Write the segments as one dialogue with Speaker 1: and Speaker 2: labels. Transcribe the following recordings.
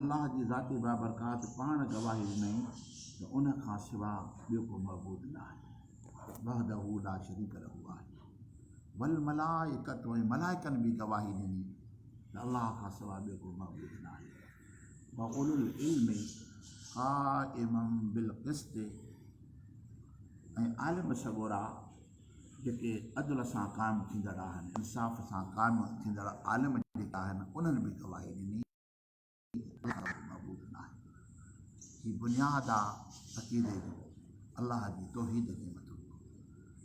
Speaker 1: الله جي ذاتي بابرڪات پاڻ گواهي ڏنائين ته ان کان سوا ٻيو ڪو معبود ناهي وحده لا شريڪ له آهي والملائڪة ۽ ملائڪن به گواهي ڏني ته الله کان سوا ٻيو ڪو معبود ناهي واولو العلم قائما بالقسط ۽ عالم سڳورا جيڪي عدل سان قائم ٿيندڙ آهن انصاف سان قائم ٿيندڙ عالم جيڪي آهن انهن به گواهي ڏني ڪو به معبود ناهي. هي بنياد آ عقيدي جو الله جي توحيد تي مٿو ٽڪو.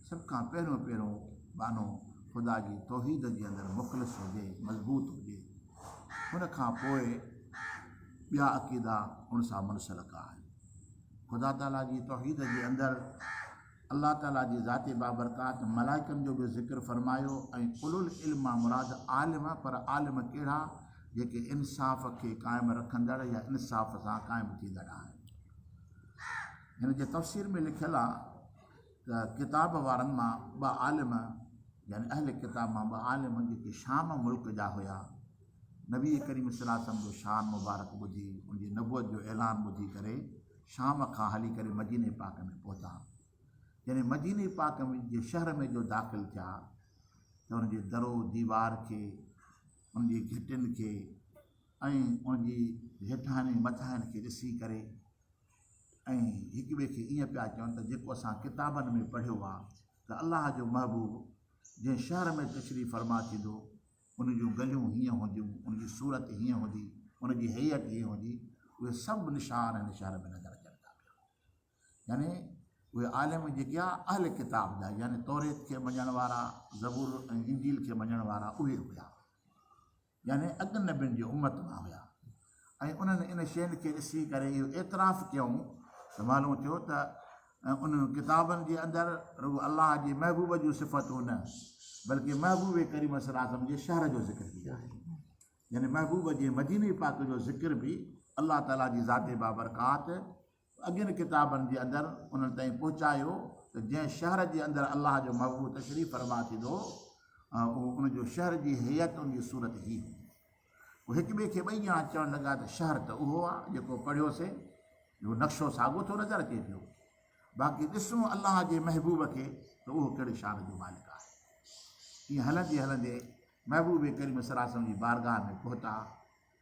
Speaker 1: سڀ کان پهريون پهريون ٻانهو خدا جي توحيد جي اندر مخلص هجي، مضبوط هجي. ان کان پوء ٻيا عقيدا ان سان منسلڪ آهن. خدا تعاليٰ جي توحيد جي اندر الله تعالي جي ذات بابرڪات، ملائڪن جو به ذڪر فرمايو ۽ اولو العلم مان مراد عالم، پر عالم ڪهڙا؟ جيڪي انصاف کي قائم رکندڙ يا انصاف سان قائم ٿيندڙ آهن. هن جي تفسير ۾ لکيل آهي ته ڪتاب وارن مان ٻه عالم يعني اهل ڪتاب مان ٻه عالم جيڪي شام ملڪ جا هيا، نبي ڪريم صلعم جو شان مبارڪ ٻڌي ان جي نبوت جو اعلان ٻڌي ڪري، شام کان هلي ڪري مديني پاڪ ۾ پهتا. جڏهن مديني پاڪ ۾ جي شهر ۾ جو داخل ٿيا ته ان جي درو ديوار کي، ان جي گهٽين کي ۽ ان جي هيٺاهين ۽ مٿاهين کي ڏسي ڪري ۽ هڪ ٻئي کي ائين پيا چون ته جيڪو اسان ڪتابن ۾ پڙهيو آهي ته الله جو محبوب جنهن شهر ۾ تشريف فرما ٿيندو ان جون ڳليون هيئن هونديون، ان جي صورت هيئن هوندي، ان جي هيئت هيئن هوندي، اهي سڀ نشان هن شهر ۾ نظر اچن ٿا پيا. يعني اهي عالم جيڪي آ اهل ڪتاب جا يعني توريت کي مڃڻ وارا، زبور ۽ انجيل کي مڃڻ وارا اهي هيا. يعني اڳن نبين جي امت مان هيا. ۽ انهن ان شين کي ڏسي ڪري اهو اعتراف ڪيائون ته معلوم ٿيو ته انهن ڪتابن جي اندر رڳو الله جي محبوب جون صفتون نه بلڪه محبوب ڪريم صلي الله عليه وسلم جي شهر جو ذڪر به آهي يعني محبوب جي مديني پاڪ جو ذڪر به الله تعالي جي ذات بابرڪات اڳين ڪتابن جي اندر انهن تائين پهچايو ته جنهن شهر جي اندر الله جو محبوب تشريف فرما ٿيندو هو ان جو شهر جي هيئت ان جي صورت هي هئي پوء هڪ ٻئي کي ٻئي ڄاڻ چوڻ لڳا ته شهر ته اهو آ جيڪو پڙهيوسين جو نقشو ساڳو ٿو نظر اچي پيو باقي ڏسون الله جي محبوب کي ته اهو ڪهڙي شان جو مالڪ آهي ائين هلندي هلندي محبوب ڪريم سراسم جي بارگاهه ۾ پهتا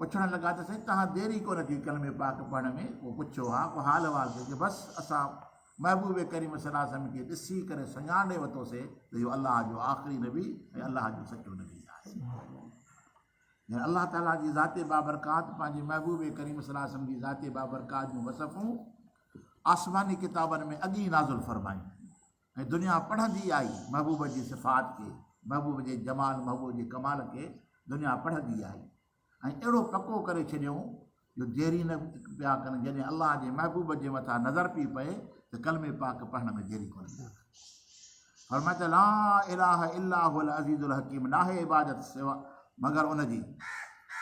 Speaker 1: پڇڻ لڳا ته سائين توهان دير ئي ڪونه ڪئي ڪلمي پاڪ پڙهڻ ۾ ڪو پڇيو ها ڪو حال احوال ٿيو چي بس اسان محبوب ڪريم صلي الله عليه وسلم کي ڏسي ڪري سڃاڻي ورتو سي ته اهو الله جو آخري نبي ۽ الله جو سچو نبي آهي يعني الله تعالي جي ذات بابرڪات پنهنجي محبوب ڪريم صلي الله عليه وسلم جي ذات بابرڪات جون وصفون آسماني ڪتابن ۾ اڳي نازل فرمائي ۽ دنيا پڙهندي آئي محبوب جي صفات کي محبوب جي جمال محبوب جي ڪمال کي دنيا پڙهندي آئي ۽ اهڙو پڪو ڪري ڇڏيئون جو ديري نه پيا ڪن جڏهن الله جي محبوب جي مٿان نظر پي پئي ته ڪلمي پاڪ پڙهڻ ۾ ديري ڪونه پيا ڪن فرمائي ته لا اله الا هو العزيز الحڪيم ناهي عبادت سوا مگر ان جي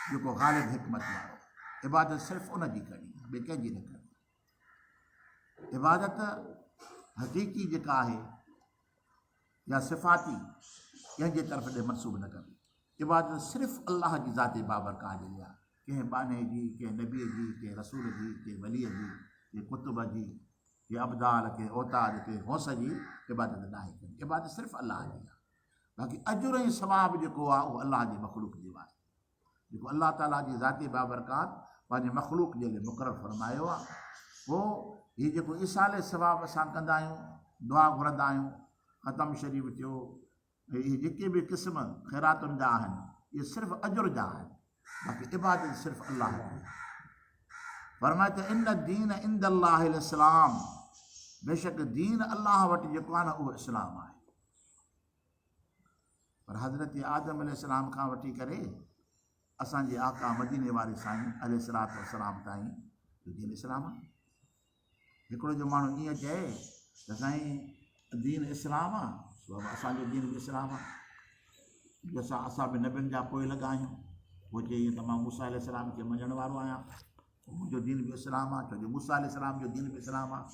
Speaker 1: جيڪو غالب حڪمت وارو عبادت صرف ان جي ڪرڻي ٻي ڪنهن جي نه ڪرڻي عبادت حقيقي جيڪا آهي يا صفاتي ڪنهن جي طرف ڏي منسوب نه ڪبي عبادت صرف الله جي ذات بابرڪاء جي ليا ڪنهن باني جي ڪنهن نبي جي ڪنهن رسول جي ڪنهن ولي جي ڪنهن قطب جي ڪنهن ابدال ڪنهن اوتاد ڪنهن غوث جي عبادت نه آهي ڪري عبادت صرف الله جي آهي باقي اجر ۽ ثواب جيڪو آهي اهو الله جي مخلوق جي آهي جيڪو الله تعاليٰ جي ذاتي بابرڪات پنهنجي مخلوق جي لئه مقرر فرمايو آهي پوء هي جيڪو ايصال ثواب اسان ڪندا آهيون دعا گهرندا آهيون ختم شريف ٿيو اهي جيڪي به قسم خيراتن جا آهن اهي صرف اجر جا آهن باقي عبادت صرف الله جي فرمائي ته ان دين عند الله الاسلام بيشڪ دين الله وٽ جيڪو آهي نه اهو اسلام آهي پر حضرت آدم عليه السلام کان وٺي ڪري اسان جي آقا مديني واري سائين عليه الصلوة والسلام تائين جو دين اسلام آ هڪڙو جو ماڻهو ائين چئي ته سائين دين اسلام آ بابا اسان جو دين به اسلام آ جو اسان اسان به نبين جا پوئي لڳا آهيون پوء چئي ته مان موسيٰ عليه السلام کي مڃڻ وارو آهيان منهنجو دين به اسلام آهي، ڇو جو موسيٰ عليه السلام جو دين به اسلام آهي.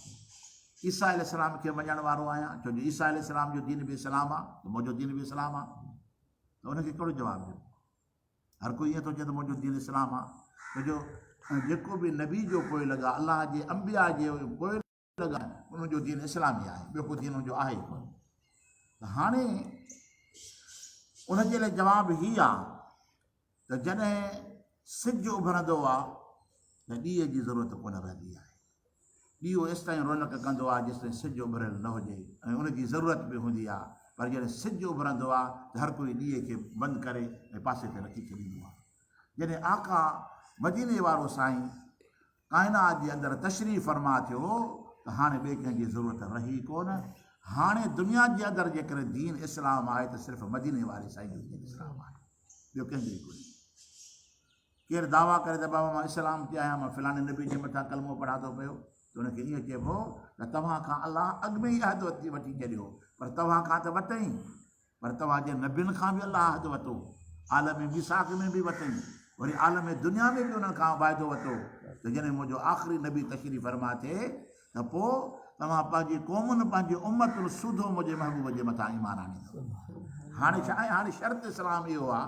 Speaker 1: عيسيٰ عليه السلام کي مڃڻ وارو آهيان، ڇو جو عيسيٰ عليه السلام جو دين به اسلام آهي ته منهنجو دين به اسلام آهي. ته ان کي ڪهڙو جواب ڏيون؟ هر ڪو ائين ٿو چئي ته منهنجو دين اسلام آهي، ڇو جو جيڪو به نبي جو پوء لڳا، الله جي انبياء جي پوء. لڳائين انهن جو دين اسلامي آهي ٻيو ڪو دين ان جو آهي ئي ڪونه ته هاڻي ان جي لاء جواب هي آهي ته جڏهن سج اڀرندو آهي ته ڏيئي جي ضرورت ڪونه رهندي آهي ڏيئو ايستائين رونق ڪندو آهي جيستائين سج اڀريل نه هجي ۽ ان جي ضرورت به هوندي آهي پر جڏهن سج اڀرندو آهي ته هر ڪوئي ڏيئي کي بند ڪري ۽ پاسي تي رکي ڇڏيندو آهي جڏهن آقا مديني وارو سائين ڪائنات جي اندر تشريف فرما ٿيو ته هاڻي ٻئي ڪنهن جي ضرورت رهي ڪو نه. هاڻي دنيا جي اندر جيڪڏهن دين اسلام آهي ته صرف مديني واري سائين جو دين اسلام آهي. ٻيو ڪنهن جو ئي ڪونهي. ڪير دعويٰ ڪري ته بابا مان اسلام تي آهيان مان فلاڻي نبي جي مٿان ڪلمو پڙهان ٿو پيو ته ان کي ائين چئبو ته توهان کان الله اڳ ۾ ئي عهد وٺي ڇڏيو پر توهان کان ته وٺئين پر توهان جي نبين کان به الله عهد وتو، عالم ميثاق ۾ به وتئين، وري عالم دنيا ۾ به انهن کان واعدو وتو ته جڏهن منهنجو آخري نبي تشريف فرما ٿئي ته پوء توهان پنهنجي قومن، پنهنجي امتن سوڌو منهنجي محبوب جي مٿان ايمان آڻيندؤ. هاڻي ڇا آهي؟ هاڻي شرط اسلام اهو آهي.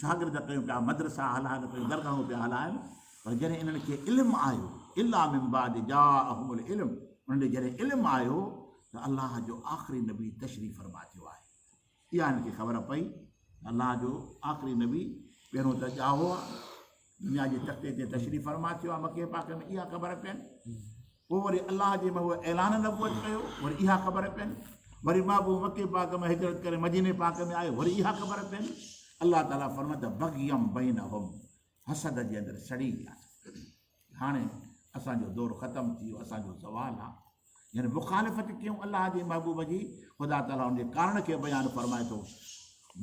Speaker 1: شاگرد ڪيون پيا مدرسا هلائن ڪيون درگاهون پيا هلائن پر جڏهن انهن کي علم آيو الا من بعد جاءهم العلم انهن ڏي جڏهن علم آيو ته الله جو آخري نبي تشريف فرما ٿيو آهي اها انهن کي خبر پئي الله جو آخري نبي پهريون ته ڄائو دنيا جي تختي تي تشريف فرما ٿيو آهي مڪي پاڪ ۾ اها خبر پين پوء وري الله جي محبوب اعلان نبوت ڪيو وري اها خبر پين وري محبوب مڪي پاڪ ۾ هجرت ڪري مديني پاڪ ۾ آيو وري اها خبر پين الله تعاليٰ فرمت بغيم بين هم حسد جي اندر سڙي ويا هاڻي اسانجو دور ختم ٿي ويو اسانجو زوال آهي يعني مخالفت ڪيون الله جي محبوب جي خدا تعالي ان جي ڪارڻ کي بيان فرمائي ٿو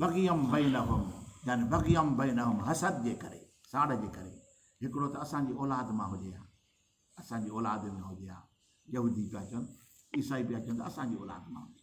Speaker 1: بغيم بينهم يعني بغيم بينهم حسد جي ڪري ساڙ جي ڪري هڪڙو ته اسان جي اولاد مان هجي ها اسان جي اولاد ۾ هجي ها يهودي پيا چون عيسائي پيا چون ته اسان جي اولاد مان هجي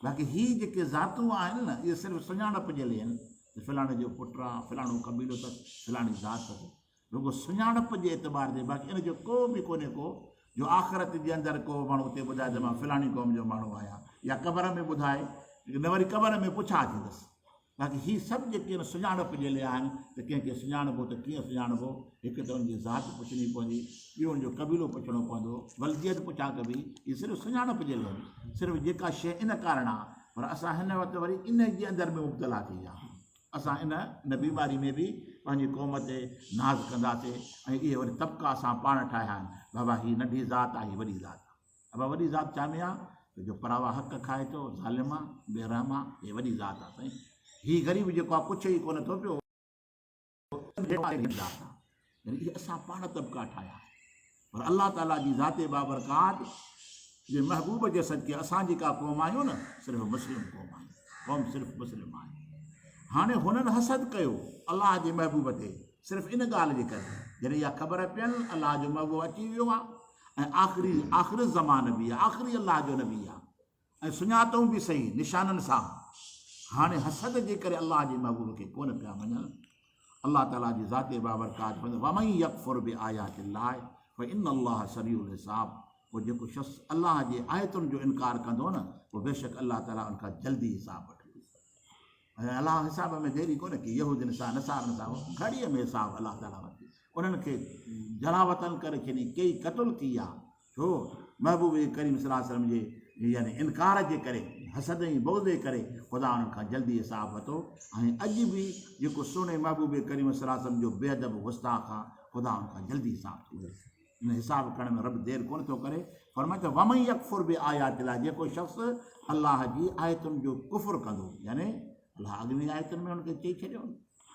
Speaker 1: باقي هي جيڪي ذاتون آهن نه اهي صرف سڃاڻپ جي لئي آهن ته فلاڻي جو پٽ آ فلاڻو قبيلو تس فلاڻي ذات تس رڳو سڃاڻپ جي اعتبار تي باقي ان جو ڪو به ڪونهي ڪو جو آخرت جي اندر ڪو ماڻهو اتي ٻڌائي ته مان فلاڻي قوم جو ماڻهو آهيان يا قبر ۾ ٻڌائي نه وري قبر ۾ پڇا ٿيندس باقي هي سڀ جيڪي آهن سڃاڻپ جي لئي آهن ته ڪنهن کي سڃاڻبو ته ڪيئن سڃاڻبو هڪ ته ان جي ذات پڇڻي پوندي ٻيو ان جو قبيلو پڇڻو پوندو ولديت پڇا ڪبي هي صرف سڃاڻپ جي لئي صرف جيڪا شيء ان ڪارڻ آهي پر اسان هن وقت وري ان جي اندر ۾ مبتلا ٿي ويا آهيون اسان ان ان بيماري ۾ به پنهنجي قوم تي ناز ڪنداسي ۽ اهي وري طبقا اسان پاڻ ٺاهيا آهن بابا هي ننڍي ذات آهي هي وڏي ذات آهي ابا وڏي ذات چامي آ جو پراوا حق کائي ٿو ظالم آ بي رحم آ هي وڏي ذات آ سائين هي غريب جيڪو آ پڇي ئي ڪونه ٿو پيو يعني اسان پاڻ طبقا ٺاهيا پر الله تعالي جي ذات بابرڪات جي محبوب جي صدقي اسان جيڪا قوم آهيون نه صرف مسلم قوم آهي قوم صرف مسلم آهي هاڻي هنن حسد ڪيو الله جي محبوب تي صرف ان ڳالهه جي ڪري جڏهن اها خبر پيل الله جو محبوب اچي ويو آهي ۽ آخري آخر الزمان به آهي، آخري الله جو نبي آهي ۽ سڃاتئون به صحيح نشانن سان، هاڻي حسد جي ڪري الله جي محبوب کي ڪونه پيا مڃن، الله تعاليٰ جي ذات بابرڪات فرمائي ٿو، ومن يڪفر بآيات الله فان الله سريع الحساب پوء جيڪو شخص الله جي آيتن جو انڪار ڪندو نه پوء بيشڪ الله تعاليٰ ان کان جلدي حساب وٺندو. ۽ الله حساب ۾ ديري ڪونه ڪئي، يهودين سان نصارن سان گهڙيء ۾ حساب الله تعاليٰ وٽ انهن کي جلاوطن ڪري ڇڏي ڪيئي قتل ڪئي ها، ڇو؟ محبوب ڪريم صلي الله عليه وسلم جي يعني انڪار جي ڪري، حسد ۽ بغض جي ڪري خدا انهن کان جلدي حساب وتو ۽ اڄ به جيڪو سهڻي محبوب ڪريم صلي الله عليه وسلم جو بي ادب گستاخ آ خدا ان کان جلدي حساب ٿو وٺي. ان حساب ڪرڻ ۾ رب دير ڪونه ٿو ڪري، فرمائي ته ومن يڪفر بآيات الله جيڪو شخص الله جي آيتن جو ڪفر ڪندو يعني الله اڳين آيتن ۾ هن کي چئي ڇڏيو هو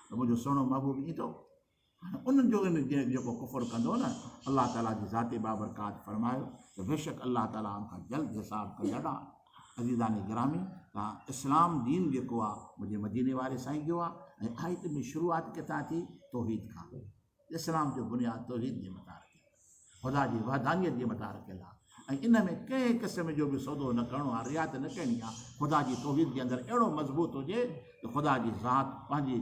Speaker 1: ته منهنجو سهڻو محبوب ايندو هاڻي انهن جو ان جيڪو ڪفر ڪندو نه الله تعاليٰ جي ذاتي بابرڪات فرمايو ته بيشڪ الله تعاليٰ ان کان جلد حساب ڪري ادا عزيزان گرامي تان اسلام دين جيڪو آ منهنجي مديني واري سائين جو آ ۽ آيت ۾ شروعات ڪٿان ٿي توحيد کان اسلام جو بنياد توحيد جي متان رکيل آهي، خدا جي وحدانيت جي متان رکيل آهي ۽ ان ۾ ڪنهن قسم جو به سودو نه ڪرڻو آهي، رعايت نه ڪرڻي آهي، خدا جي توحيد جي اندر اهڙو مضبوط هجي ته خدا جي ذات پنهنجي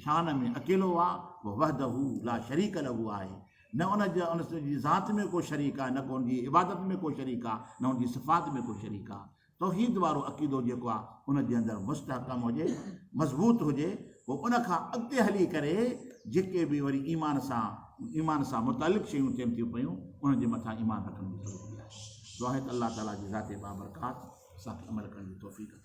Speaker 1: شان ۾ اڪيلو آهي، هو وحده لا شريڪ له آهي، نه ان جي ان جي ذات ۾ ڪو شريڪ آهي، نه ڪو ان جي عبادت ۾ ڪو شريڪ آهي، نه ان جي صفات ۾ ڪو شريڪ آهي. توحيد وارو عقيدو جيڪو آ ان جي اندر مستحڪم هجي مضبوط هجي پوء ان کان اڳتي هلي ڪري جيڪي به وري ايمان سان ايمان سان متعلق شيون ٿين ٿيون پيون انهن جي مٿان ايمان رکڻ جي ضرورت آهي دعا آهي ته الله تعالي جي ذات بابرڪات اسان کي عمل ڪرڻ جي توفيق عطا